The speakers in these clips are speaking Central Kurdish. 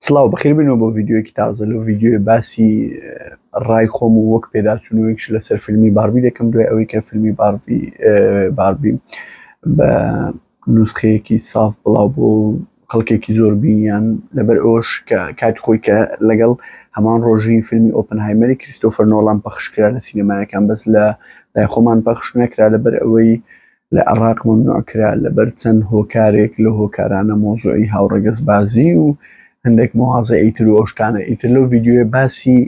سلااو بەخیربنەوە بۆ ڤیددیوەکی تازە لە ڤیددیوی باسی ڕای خۆم و وەک پێداچوونەوەیش لەسەر فیلمی باربی دەکەم دوای ئەوەی کە فیلمی باربی باربی بە نوسخەیەکی ساف بڵاو بۆ خەڵکێکی زۆر بینیان لەبەر ئەوش کە کات خۆی کە لەگەڵ هەمان ڕۆژی فیلمی ئۆپن هایمەری کریستۆفەر نۆڵام پەخشکرا لە سینەمایەکان بەس لە لای خۆمان پەخش نەکرا لەبەر ئەوەی لە عێڕاق مەمنوع کرا لەبەر چەند هۆکارێک لەو هۆکارانە مەوزوعی هاوڕەگەز بازی و هەندێک مواازە ئیتر و ئەوشتانە ئیتر لەو ڤیددیوێ باسی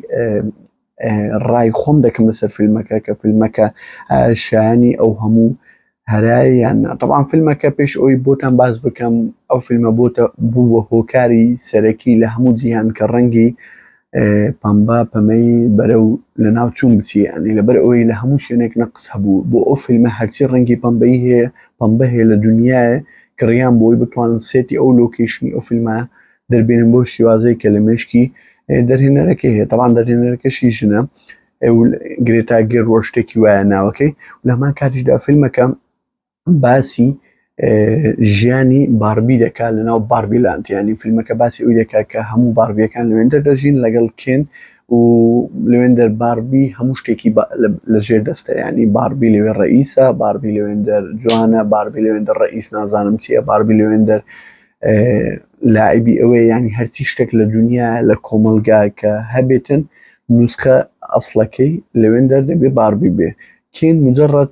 ڕای خۆم دەکەم لەسەر فیلمەکە کە فیلمەکە شایانی ئەو هەموو هەرایان تەوان فیلمەکە پێش ئەوی بۆتان باز بکەم ئەو فیلمە بۆتە بوو بە هۆکاری سەرەکی لە هەموو جیهان کە ڕەنگی پەمبا پەمەی بەرەو لە ناو چوون بچی ئەنی لەبەر ئەوەی لە هەموو شوێنێک نەقس هەبوو بۆ ئەو فیلمە هەرچی ڕەنگی پەمبەی هەیە پەمبە هەیە لە دنیاە کڕیان بۆی بتوانن سێتی ئەو لۆکیشنی ئەو فیلمە دەربێنن بۆ شێوازەیە کە لە مێشکی دەرهێنەرەکە هەیە تەوان دەرهێنەرەکەشی ژنە گرێتاگەر ڕۆشتێکی وایە ناوەکەی لەمان کاتیشدا فیلمەکەم باسی ژیانی باربی دەکات لەناو باربی لاند یعنی فیلمەکە باسی ئەوی دەکات کە هەموو باربیەکان لەوێندەر دەژین لەگەڵ کێن و لەوێندەر باربی هەموو شتێکی لەژێر دەستە ینی باربی لەوێ ڕئیسە باربی لەوێندەر جوانە باربی لەوێندەر ڕئیس نازانم چییە باربی لەوێندەر لایبی ئەوەیە ینی هەرچی شتێک لە دنیا لە کۆمەلگا کە هەبێتن نوسخە ئەسلەکەی لەوێن دەردەبێ باربی بێ کێن مجرڕەت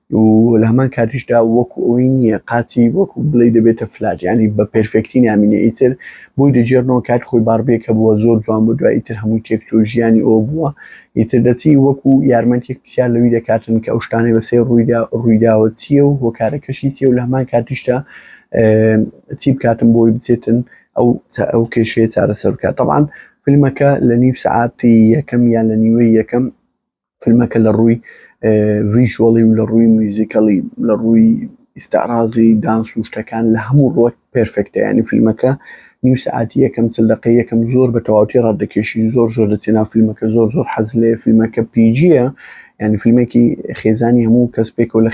و لە هەمان کاتیشدا وەکو ئەوەی نییە قاچی وەکو بڵێ دەبێتە فلاج ینی بە پێرفێکتی نامینێ ئیتر بۆی دەجێڕنەوە کات خۆی باربیەکە بووە زۆر جوان بوو دوای ئیتر هەمووی تێکچوو ژیانی ئەو بووە ئیتر دەچی وەکو یارمەتیەک پرسیار لەوی دەکاتن کە ئەو شتانەی بەسێ ڕوویدا ڕوویداوە چییە و هۆکارەکەشی چیە و لە هەمان کاتیشدا چی بکاتم بۆی بچێتن ئەو ئەو کێشەیە چارەسەر بکات طبعاان فیلمەکە لە نیو سعاتی یەکەم یان لە نیوەی یەکەم فیلمەکە لە ڕووی ڤیژوەڵی و لە ڕووی میوزیکەڵی لە ڕووی ئیسعرازی دانس و شتەکان لە هەموو ڕوەک پرفکتە ینی فیلمەکە نیو سعاتی یەکەم چل دقی یەکەم زۆر بە تەواوتی ڕات دەکێشی زۆر زۆر دەچێنا فیلمەکە زۆر زۆر حەز لێ فیلمەکە پیجیە ینی فیلمێکی خێزانی هەموو کەس پێکەوە لە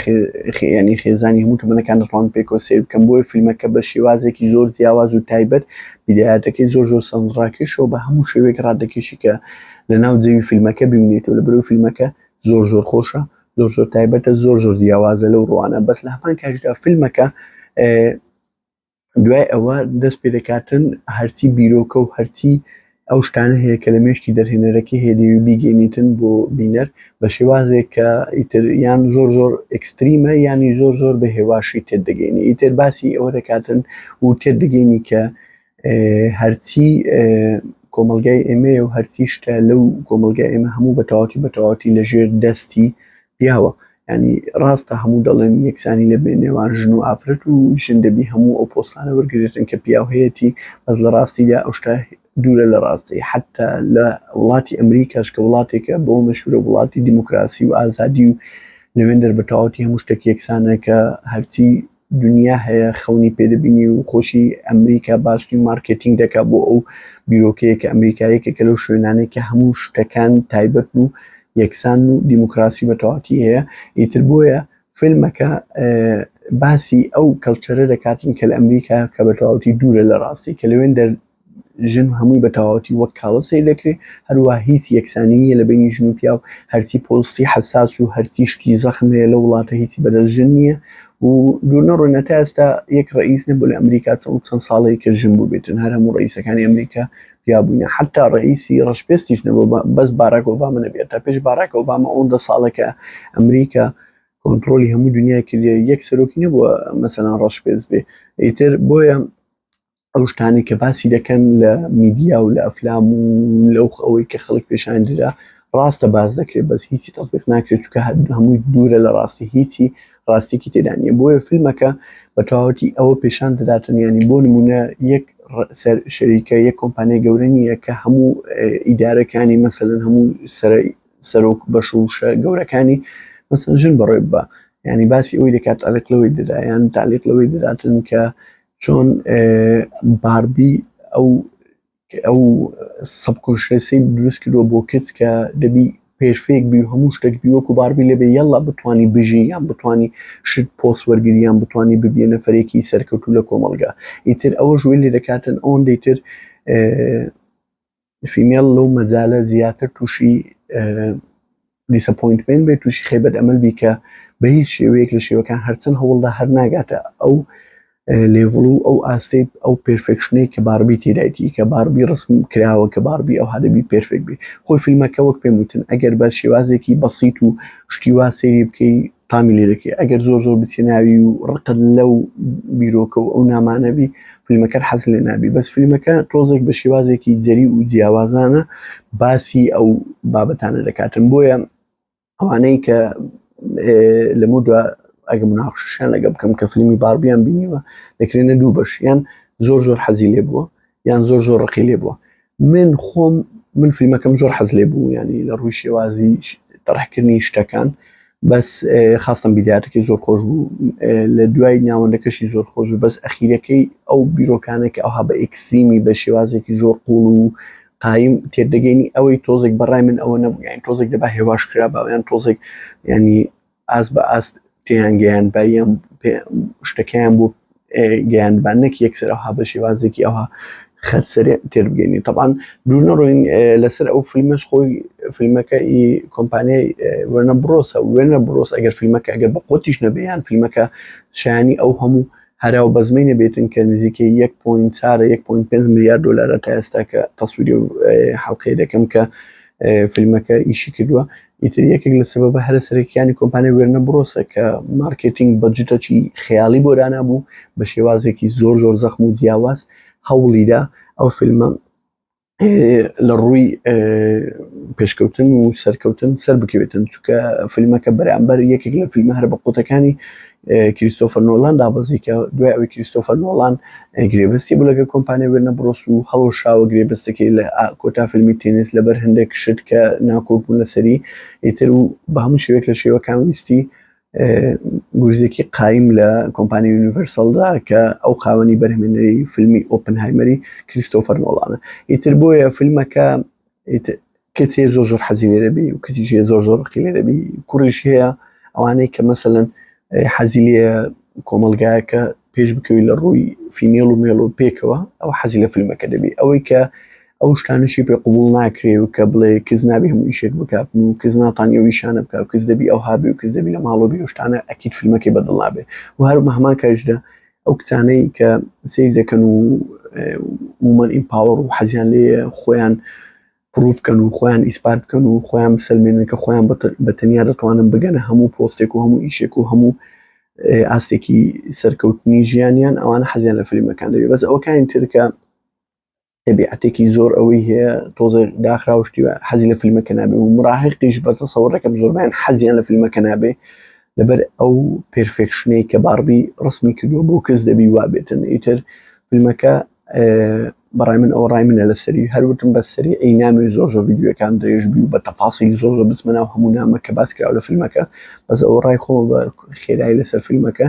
ینی خێزانی هەموو تەمەەکان دەڕوان پێکەوە سیر بکەم بۆی فیلمەکە بە شێوازێکی زۆر جیاواز و تایبەت بیداەتەکەی زۆر زۆر سەنجڕاکێشەوە بە هەموو شوێک ڕادەکێشی کە لە ناو جەوی فیلمەکە ببینێتەوە لە بەرەو فیلمەکە زۆر زۆر خۆشە زۆر زۆر تایبەتە زۆر زۆر جیاوازە لەو ڕوانە بەس لە هەمان کاشدا فیلمەکە دوای ئەوە دەست پێ دەکاتن هەرچی بیرۆکە و هەرچی ئەو شتانە هەیە کە لە مێشتی دەرهێنەرەکەی هێدەوی بیگەێنیتن بۆ بینەر بە شێوازێک کە ئیتر یان زۆر زۆر ئەکستریمە ینی زۆر زۆر بە هێواشی تێدەگەینی ئیتر باسی ئەوە دەکاتن و تێدەگەینی کە هەرچی کۆمەلگای ئێمەیە و هەرچی شتە لەو کۆمەلگای ئێمە هەموو بەتەواتی بەتەواتی لە ژێر دەستی پیاوە ینی ڕاستە هەموو دەڵێن یەکسانی لە بێ نێوان ژن و ئافرەت و ژن دەبی هەموو ئەو پۆستانە وەرگێتن کە پیاوهەیەتی بەس لە ڕاستیدا ئەو شتا دوورە لە ڕاستی حتا لە وڵاتی ئەمریکاش کە وڵاتێکە بۆ مەشورە وڵاتی دیموکراسی و ئازادی و لەوێندەر بەتەواتی هەموو شتێک یەکسانە کە هەرچی دونیا هەیە خەونی پێ دەبینی و خۆشی ئەمریکا باستی مارکێتینگ دەکا بۆ ئەو بیرۆکەیە کە ئەمریکایەکە کە لەو شوێنانەی کە هەموو شتەکان تایبەت و یەکسان و دیموکراسی بە تەواتی هەیە ئیتر بۆیە فیلمەکە باسی ئەو کەلچەرە دەکاتین کە لە ئەمریکا کە بە تەواوتی دوورە لە ڕاستی کە لەوێن ژن هەمووی بە تەواوەتی وەک کاڵە سەیر دەکرێ، هەروەها هیچ یەکسانی نییە لە بەینی ژن و پیاو، هەرچی پۆستی حەساس و هەرچی شتی زەخم هەیە لەو وڵاتە هیچی بەدەست ژن نییە و دوور نەڕۆین هەتا ئێستا یەک ڕەئیس نەبووە لە ئەمریکا چەڵ چەند ساڵەی کە ژن بووبێتن هەر هەموو ڕەئیسەکانی ئەمریکا پیا بووینە حەتا ڕەئیسی ڕەشپێستیش نەبووە بەس باراک ئۆبامە نەبێ هەتا پێش باراک ئۆبامە ئەوەندە ساڵە کە ئەمریکا کۆنتڕۆلی هەموو دنیای کردیە یەک سەرۆکی نەبووە مەسەلەن ڕەشپێست بێ ئیتر بۆیە ئەو شتانی کە باسی دەکەن لە میدیا و لە ئەفلام و لەو ئەوەی کە خەڵک پێشان درا ڕاستە باز دەکرێت بەس هیچی تەڵبیق ناکرێت چکە هەمووی دوورە لە ڕاستی هیچی ڕاستێکی تێدانە بۆیە فیلمەکە بە تەواوەتی ئەوە پێشان دەداتن ینی بۆ نمونە یەک سەر شەریکە یەک کۆمپانیای گەورە نییە کە هەموو ئیدارەکانی مەسەن هەموو سەرۆک بەش و شە گەورەکانی مەسەن ژن بەڕێ بە ینی باسی ئەوی دەکات ئەلک لەوەی دەدایان تالیق لەوەی دەداتن کە چۆن باربی ئەو ئەو سەبکۆنشێسی دروست کردوە بۆ کچ کە دەبی پێرفێک بی و هەموو شتێک بی وەکو باربی لێبێ یەڵا بتانی بژی یان بتانی شت پۆس وەرگریان بتانی ببیە نەفرێکی سەرکەوتو لە کۆمەلگا ئیتر ئەوە ژوێ لێ دەکاتن ئەوەن دەیتر فیمێڵ لەو مەجالە زیاتر تووشی دیسەپۆینتمێنت بێت تووشی خێبەت ئەمەل بی کە بە هیچ شێوەیەک لە شێوەکان هەرچەند هەوڵدا هەر ناگاتە ئەو لێڤڵ و ئەو ئاستەی ئەو پێرفێکشنەی کە باربی تێدایتی کە باربی ڕسم کراوە کە باربی ئەو هەدەبی پێرفێک بی خۆی فیلمەکە وەک پێم وتن ئەگەر بە شێوازێکی بەسییت و شتیوا سێری بکەی تامی لێ دەکەی ئەگەر زۆر زۆر بچێ ناوی و ڕقت لەو بیرۆکە و ئەو نامانەبی فیلمەکەر حەز لێ نابی بەس فیلمەکە تۆزێک بە شێوازێکی جەری و جیاوازانە باسی ئەو بابەتانە دەکاتن بۆیە ئەوانەی کە لە مدووە ئەگە مناخشیان لەگە بکەم کە فیلمی باربیان بینیوە دەکرێنە دوو بەش یان زۆر زۆر حەزی لێ بووە یان زۆر زۆر ڕقی لێ بووە من خۆم من فیلمەکەم زۆر حەز لێ بوو ینی لە ڕووی شێوازی تەڕحکردنی شتەکان بەس خاستم بیداتەکەی زۆر خۆش بوو لە دوای ناوەندەکەشی زۆر خۆش بوو بەس ئەخیرەکەی ئەو بیرۆکانێک ئەوها بە ئکسلیمی بە شێوازێکی زۆر قوڵ و قایم تێدەگەینی ئەوەی تۆزێک بەڕای من ئەوە نەبوویان تۆزێک دەبا هێواش کرا باویان تۆزێک ینی ئاست بە ئاست پێیان گەیان بەم شتەکەیان بۆ گەیانبان نەک یەکسەر ئەوها بە شێوازێکی ئەوها خەرسەرێ تێبگەینی تەبان دوور نەڕۆین لەسەر ئەو فیلمەش خۆی فیلمەکە ئی کۆمپانیای وێنە بڕۆسە وێنە بڕۆس ئەگەر فیلمەکە ئەگەر بە خۆتیش نەبیان فیلمەکە شایانی ئەو هەموو هەرا و بەزمەی نەبێتن کە نزیکە 1.5 میلیارد دلارە تا ئێستا کە تەسویری حڵلقەی دەکەم کە فیلمەکە ئیشی کردووە ئیتر یەکێک لە سەبەبە هەرە سەرەکییانی کۆمپانیای وێرنە برۆسە کە مارکێتینگ بە جوتەکی خەیاڵی بۆ دانابوو، بە شێوازێکی زۆر زۆر زەخم و جیاواز هەوڵیدا ئەو فیلمە لە ڕووی پێشکەوتن و سەرکەوتن سەربکەوێتن، چونکە فیلمەکە بەرامبەر یەکێک لە فیلمە هەرە بەقووتەکانی کریستۆفەر نۆڵان دابەزی کە دوای ئەوەی کریستۆفەر نۆڵان گرێبەستی بوو لەگەڵ کۆمپانیا وێرنە بڕۆس و هەڵوەشاوە گرێبەستەکەی لە کۆتا فیلمی تێنس لەبەر هەندێک شت کە ناکۆک بوون لەسەری ئیتر و بە هەموو شێوێک لە شێوەکان ویستی گورزێکی قایم لە کۆمپانی یونیڤەرسەلدا کە ئەو خاوەنی بەرهمێنەری فیلمی ئۆپنهایمەری کریستۆفەر نۆڵانە ئیتر بۆیە فیلمەکە کەچێ زۆر زۆر حەزی لێرەبی و کچیشێ زۆر زۆر ڕقی لێرەبی کوڕیش هەیە ئەوانەی کە مەسەن حەزی لێ کۆمەلگایەکە پێش بکەوی لە ڕووی فیمێڵ و مێڵ و پێکەوە ئەو حەزی لە فیلمەکە دەبی ئەوەی کە ئەو شتانشی پێ قوبول ناکرێ و کە بڵێ کز نابی هەموو یشێک بکاتن و کز ناتانی و یشانە بکە و کز دەبی ئەو هابی و کز دەبی لە ماڵۆبی و شتانە ئەکییت فیلمەکەی بەدڵ نابێ و هەرمە هەمان کاریشدا ئەو کچانەی کە سەیر دەکەن و وومەن ئیمپاوەڕ و حەزیان لێیە خۆیان پڕوف کەن و خۆیان ئیسپات بکەن و خۆیان بسەلمێنن کە خۆیان بە تەنیا دەتوانن بگەنە هەموو پۆستێک و هەموو ئیشێک و هەموو ئاستێکی سەرکەوتنی ژیانیان ئەوانە حەزیان لە فلیمەکان دەبێت بەس ئەوەکانی ترکە تەبیعەتێکی زۆر ئەوەی هەیە تۆزە داخراوشتیوە حەزی لە فیلمەکە نابێ و مراهقیش بەرزە سەوڕەکەم زۆربیان حەزیان لە فیلمەکە نابێ لەبەر ئەو پرفێکشنەی کە باربی ڕسمی کردو بۆ کەس دەبی وابێتن ئیتر فیلمەکە بەڕای من ئەو ڕای منە لەسەری هەروتم بە سەری ئەی نامی زۆر زۆر یددیوەکان درێژ بی و بە تەفاسی زۆر زۆر بزمەنا و هەموو نامە کە باس کرا لە فیلمەکە بەس ئەو ڕای خۆ بە خێرایی لەسەر فیلمەکە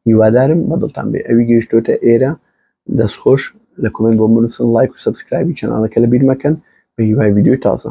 هیوادارم بەدڵتان بێ ئەوی گەیشتۆتە ئێرە دەست خۆش لە کۆمێنت بۆم بنووسن لایک و سەبسکرایبی چەناڵەکە لەبیر مەکەن بە هیوای ڤیدیۆی تازە.